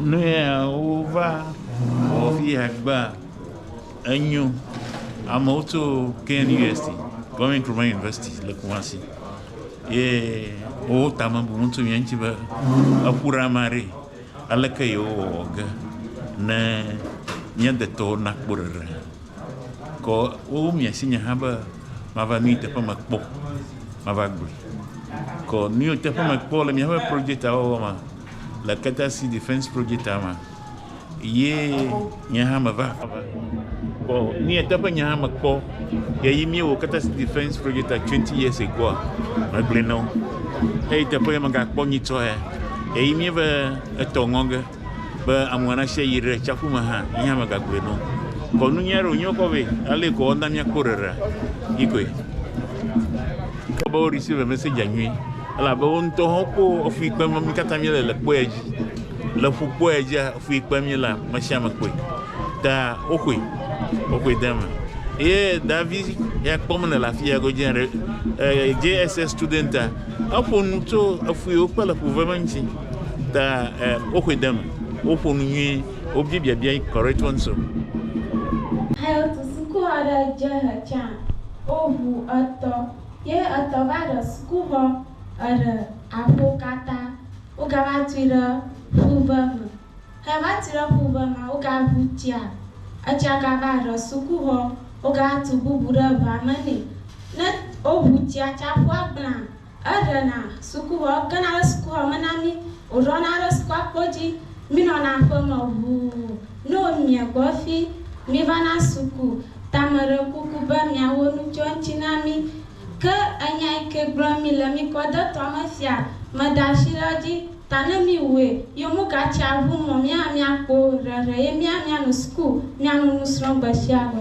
Nuya wova wɔ fi ya gbea, enyo. Amewo tso KNUST, Kwame Nkrumah University le Kumasi ye wowo tame bu wo ŋuti mía ŋuti be eƒu ɖe ame aɖee. Aleke yewowɔ ge ne mía detɔwo nakpɔ ɖeɖe. Kɔ wo mia si nye hã be mava nu yi teƒe me kpɔ mava gblɔe. Kɔ nu yi teƒe me kpɔ le miaƒe project awɔwɔ me le Keta City Defense Project me ye nye hã meva kɔ nu yi teƒe nye hã me kpɔ ye yi mi wɔ Keta City Defense Project 20 years ago me gblɔe na wo. Eyi teƒe ye me ga kpɔ nyitsɔ ye ye yi mi ve etɔ ŋɔ ge. Be amua na sia yi re tsaƒu me hã, yi hã megagblɔe no. Kɔ nu nyuia ɖo nyɔkɔ ve, ale kɔ ɔna mia kpo rere. Yi koe. Ke be ori si ve mese dja nyui, ele abe wo ŋutɔ hã kpo efui kpe me mi kata mi le le kpoe dji. Le ƒu kpoe dji efui kpe mi la me sia me kpoe. Ta wo xoe. Wo xoe de eme. Ye davi ya kpɔ me ne le afi ya go dje re, eh, JSS studenta, eƒo nu tso efui wo kpe le ƒu ve me ŋutsi. Ta eh, woxɔe de eme, woƒo nu nyuie, wobia biabiae correct ones. Health suku aɖe dze he tsã, woʋu etɔ ye etɔ va ɖe sukuxɔ eɖe aƒo katã. Wogava tui ɖe ƒuve me. Heva tui ɖe ƒuve mea, wogaʋu tsia. Etsia gava ɖe sukuxɔ, wogatu bubu ɖe ʋa me nɛ. Ne woʋu tsia tsã, ƒua gblẽa. Eɖena sukuxɔ, egena ɖe sukuxɔ me na mí, wòɖɔna ɖe sukua kpo dzi, mínɔna aƒe me ʋuu. Ne wòmie gbɔ fi, mívana suku. Ta meɖe kuku be miawo nu tso eŋuti na mí. Ke enya yi ke gblɔm mi le mi kɔdetɔ me fia. Meda ashi ɖe edzi, ta ne miwue, yo mugatsi aʋu mɔ mía míakpo ɖeɖe ye mía míano suku, míano nusrɔ̃ gbe sia gbe.